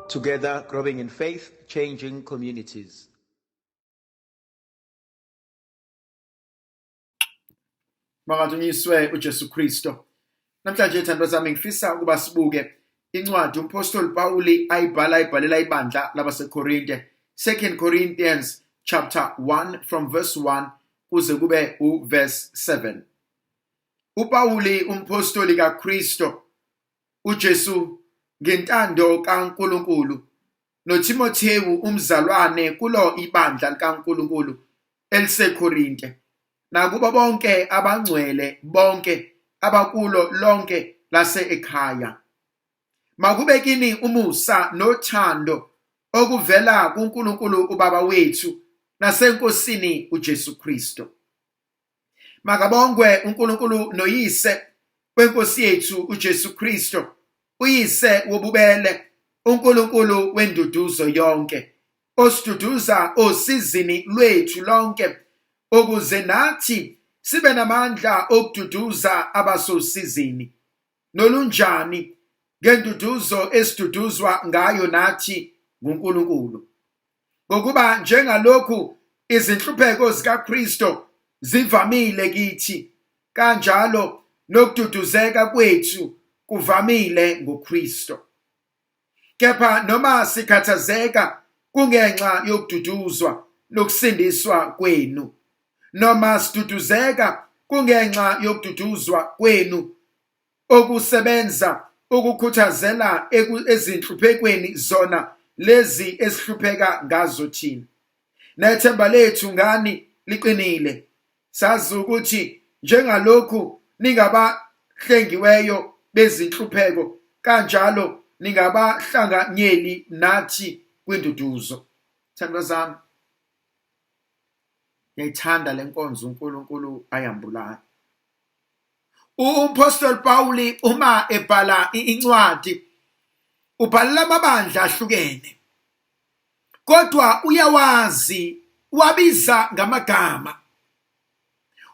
Together, growing in faith, changing communities. Makathunyiswe uJesu Kristo. Namhlanje thando zami ngifisa ukuba sibuke incwadi umpostoli Pawuli ayibhala ayibhalela ibandla labaseKorinte. 2 Corinthians chapter 1 from verse 1 kuze kube uverse 7. UPawuli umphostoli kaKristo uJesu ngentando kaNkulunkulu noThimothewu umzalwane kulo ibandla likaNkulunkulu eliseKorinte nakubo bonke abangcwele bonke abakulo lonke lase-ekhaya. Makube kini umusa nothando okuvela kuNkulunkulu uBaba wethu naseNkosini uJesu Kristu. makabongwe uNkulunkulu noyise wenkosi yethu uJesu Kristo uyise wobubele uNkulunkulu wenduduzo yonke osiduduza osizini lwethu lonke ukuze nathi sibe namandla okududuza abasosizini nolunjani ngenduduzo esiduduzwa ngayo nathi nguNkulunkulu ngokuba njengalokhu izinhlupheko zikaKristu zivamile kithi kanjalo nokududuzeka kwethu kuvamile ngoKristu kepha noma sikhathazeka kungenxa yokududuzwa nokusindiswa kwenu noma siduduzeka kungenxa yokududuzwa kwenu okusebenza ukukhuthazela ezinhluphekweni zona lezi esihlupheka ngazo thina nethemba lethu ngani liqinile sazi ukuthi njengalokhu ningabahlengiweyo bezinhlupheko kanjalo ningabahlanganyeli nathi kwinduduzo thandwa zami ngiyayithanda le nkonzo uNkulunkulu ayambulayo Umphostoli Pawuli uma ebhala incwadi ubhalela amabandla ahlukene kodwa uyawazi wabiza ngamagama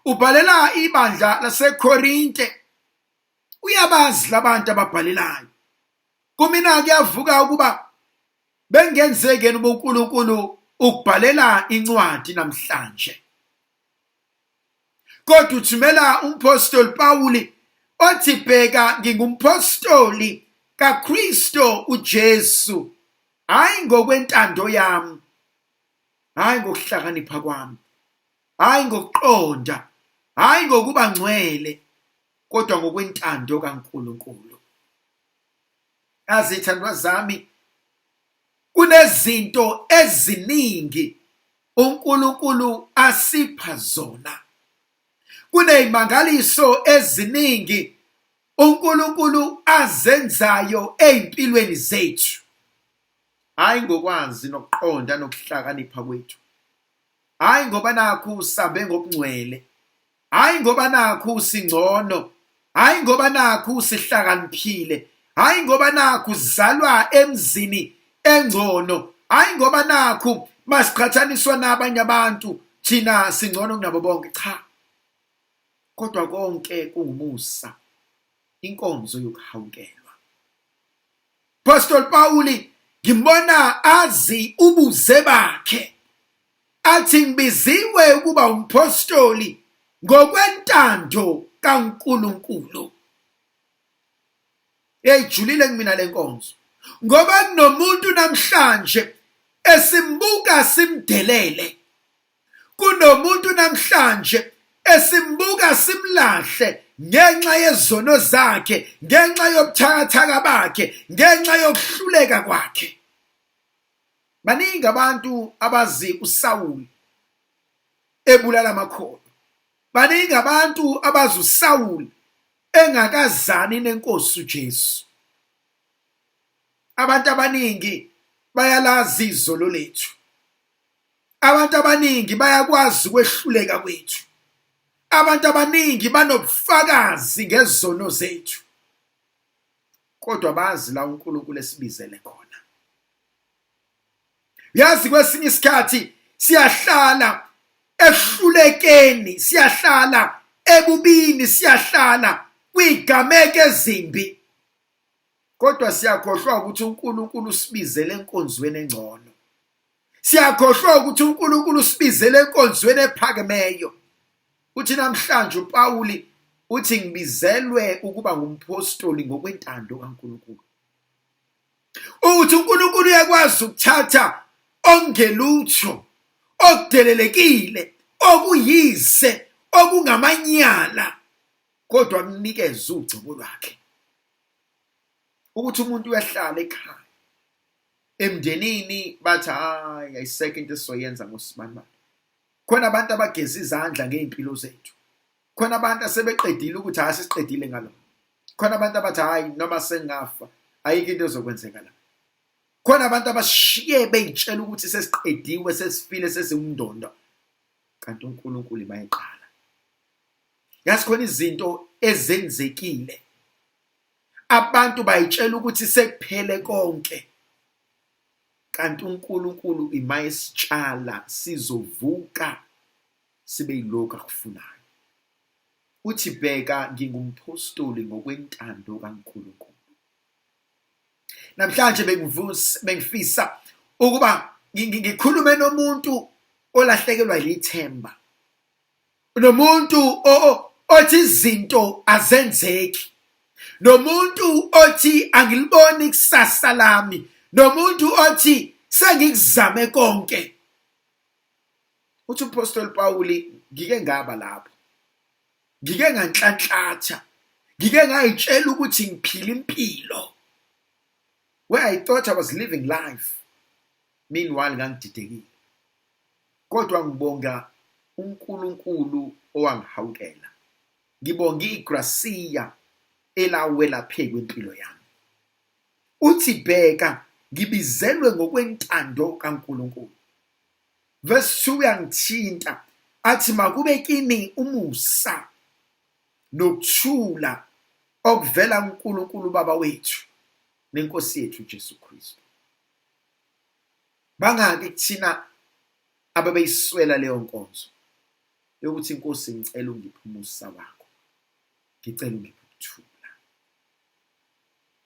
ubhalela ibandla laseKorinte uyabazi labantu ababhalelayo kumina kuyavuka ukuba bengenzekeni ubuNkulunkulu ukubhalela incwadi namhlanje kodwa uthumela umphostoli Pawuli othi bheka ngingumphostoli kaKristo uJesu hayi ngokwentando yami hayi ngokuhlakanipha kwami hayi ngokuqonda hayi ngokuba ngcwele kodwa ngokwentando kaNkulunkulu azithandwa zami Kunezinto eziningi uNkulunkulu asipha zona. Kunezimangaliso eziningi uNkulunkulu azenzayo ezimpilweni zethu. Hayi ngokwazi nokuqonda nokuhlakanipha kwethu. Hayi ngoba nakhu sabe ngokungcwele hhayi ngoba nakhu usingcono hhayi ngoba nakhu usihlakaniphile hhayi ngoba nakhu uzalwa emzini engcono hhayi ngoba nakhu masiqhathaniswa nabanye abantu thina singcono kunabo bonke cha kodwa konke kungumusa inkonzo yokuhawukelwa Apostle Pawuli ngibona azi ubuze bakhe athi ngibiziwe ukuba umphostoli ngokwentando kaNkuluNkulu eyijulile kumina lenkonzo ngoba kunomuntu namhlanje esimbuka simdelele kunomuntu namhlanje esimbuka simlahle ngenxa yezono zakhe ngenxa yobuthakathaka bakhe ngenxa yokuhluleka kwakhe Baningi abantu abazi uSawuli ebulala amakhono. Baningi abantu abazi uSawuli engakazani nenkosi uJesu. Abantu abaningi bayalazi izolo lethu. Abantu abaningi bayakwazi ukwehluleka kwethu. Abantu abaningi banobufakazi ngezono zethu. Kodwa bazi la uNkulunkulu esibizele khona. yazi kwesinye isikhathi siyahlala ehlulekeni siyahlala ebubini siyahlala kwigameko ezimbi kodwa siyakhohlwa ukuthi uNkulunkulu usibizele enkonzweni engcono siyakhohlwa ukuthi uNkulunkulu usibizele enkonzweni ephakemeyo uthi namhlanje uPawuli uthi ngibizelwe ukuba ngumpostoli ngokwentando kaNkulunkulu ukuthi uNkulunkulu uyakwazi ukuthatha ongelutho okudelelekile okuyize okungamanyala kodwa kunikeze ugcobo lwakhe ukuthi umuntu uyahlala ekhaya emndenini bathi hayi ayisekho into esizoyenza ngosibanibani khona abantu abageza izandla ngey'mpilo zethu khona abantu asebeqedile ukuthi hayi sesiqedile ngalo khona abantu abathi hayi noma sengafa ayikho into ezokwenzeka la khona abantu abashiye beyitshela ukuthi sesiqediwe sesifile sesiwumndondo kanti uNkulunkulu bayiqala yazi khona izinto ezenzekile abantu bayitshela ukuthi sekuphele konke kanti uNkulunkulu imayesitshala sizovuka sibe yilokhu akufunayo. Uthi bheka ngingumphostoli ngokwentando kaNkulunkulu. Namhlanje bengivusa bengifisa ukuba ngikhulume nomuntu olahlekelwa yithemba. Nomuntu othi izinto azenzeki. Nomuntu othi angiliboni ikusasa lami. Nomuntu othi sengikuzame konke uthi uphostoli pawuli ngike ngaba lapho ngike nganhlanhlatha ngike ngayitshela ukuthi ngiphila impilo where i thought i was living life meanwhile ngangididekile kodwa ngibonga uNkulunkulu owangihawukela ngibonga igrasiya elawela phezu kwempilo yami uthi bheka ngibizelwe ngokwentando kaNkulunkulu verse 2 uyangithinta athi makube kini umusa nokuthula okuvela kuNkulunkulu baba wethu nenkosi yethu Jesu Kristu bangaki kuthina ababeyiswela leyo nkonzo yokuthi inkosi ngicela ungiphe umusa wakho ngicela ungiphe ukuthula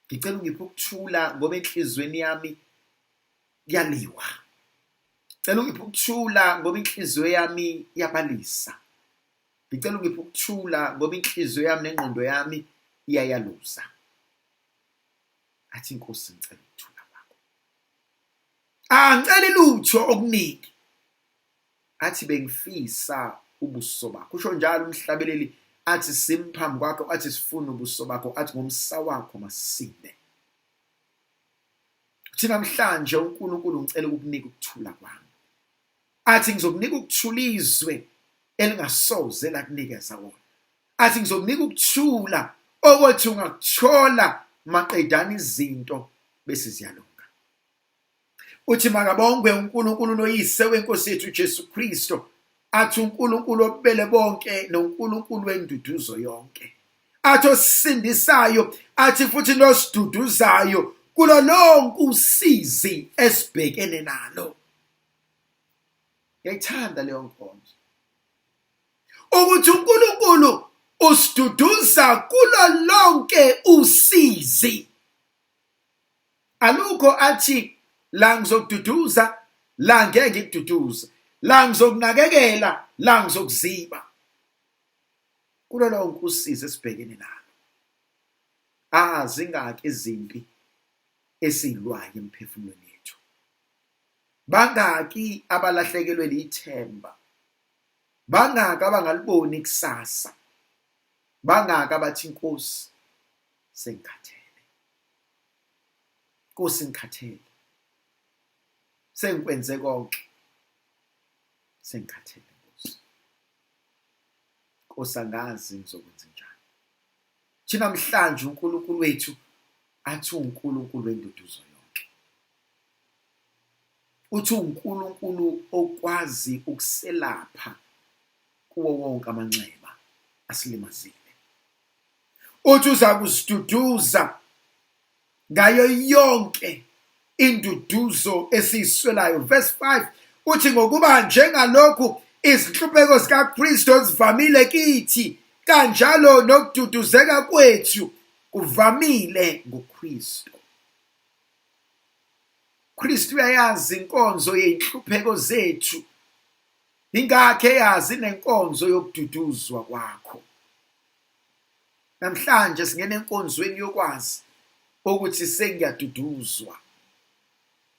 ngicela ungiphe ukuthula ngoba enhlizweni yami kuyaliwa cela ungiphe ukuthula ngoba inhliziyo yami iyabalisa ngicela ungiphe ukuthula ngoba inhliziyo yami nengqondo yami iyayaluza athi inkosi ngicela ukuthula kwakho angiceli lutho okuningi athi bengifisa ubuso bakho usho njalo umhlabeleli athi simphambi kwakho athi sifuna ubuso bakho athi ngomsa wakho masinde uthi namhlanje uNkulunkulu ngicela ukukunika ukuthula kwami athi ngizokunika ukuthula izwe elingasoze lakunikeza wona athi ngizokunika ukuthula okothi ungakuthola maqedana izinto bese ziyalunga uthi makabongwe uNkulunkulu noyise wenkosi yethu Jesu Kristo athi uNkulunkulu obubele bonke noNkulunkulu wenduduzo yonke athi osisindisayo athi futhi nosiduduzayo kulo lonke usizi esibhekene nalo ngiyayithanda leyo nkonzo ukuthi uNkulunkulu usiduduza kulo lonke usizi alukho athi la ngizokududuza la ngeke ngikududuze la ngizokunakekela la ngizokuziba kulo lonke usizi esibhekene nalo azingaki ah, izimpi esilwayo emphefumulweni yethu bangaki abalahlekelwe lithemba bangaki abangaliboni ikusasa bangaki abathi inkosi sengikhathele Nkosi ngikhathele sengikwenze konke sengikhathele Nkosi Nkosi angazi ngizokwenza njani thina mhlanje uNkulunkulu wethu athi uNkulunkulu wenduduzo yonke uthi uNkulunkulu okwazi ukuselapha kuwo wonke amanxeba asilimazile uthi uza kusiduduza ngayo yonke induduzo esiyiswelayo verse 5 uthi ngokuba njengalokhu izinhlupheko zikaKristu ezivamile kithi kanjalo nokududuzeka kwethu kuvamile ngoKristu Kristu uyayazi inkonzo yezinhlupheko zethu Ingakho eyazi nenkonzo yokududuzwa kwakho. Namhlanje singena enkonzweni yokwazi ukuthi sengiyaduduzwa.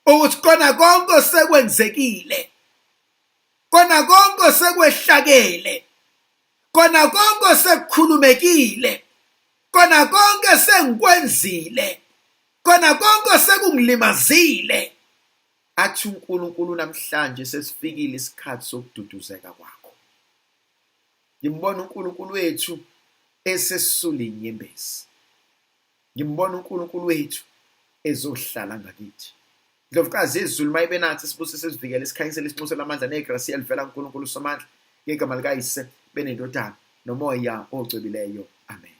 Ukuthi kona konke osekwenzekile. Kona konke osekwehlakele. Kona konke osekukhulumekile. Kona konke sengikwenzile. Kona konke osekungilimazile. Athi uNkulunkulu namhlanje sesifikile isikhathi sokududuzeka kwakho. Ngimbona uNkulunkulu wethu esesisula inyembezi. Ngimbona uNkulunkulu wethu ezohlala ngakithi. Ndlovukazi izulu mayibe nathi sibusise sivikele sikhanyisele isinxusela amandla negrasi elivela kuNkulunkulu uSomandla ngegama likayise benendodana nomoya ocwebileyo. Amen.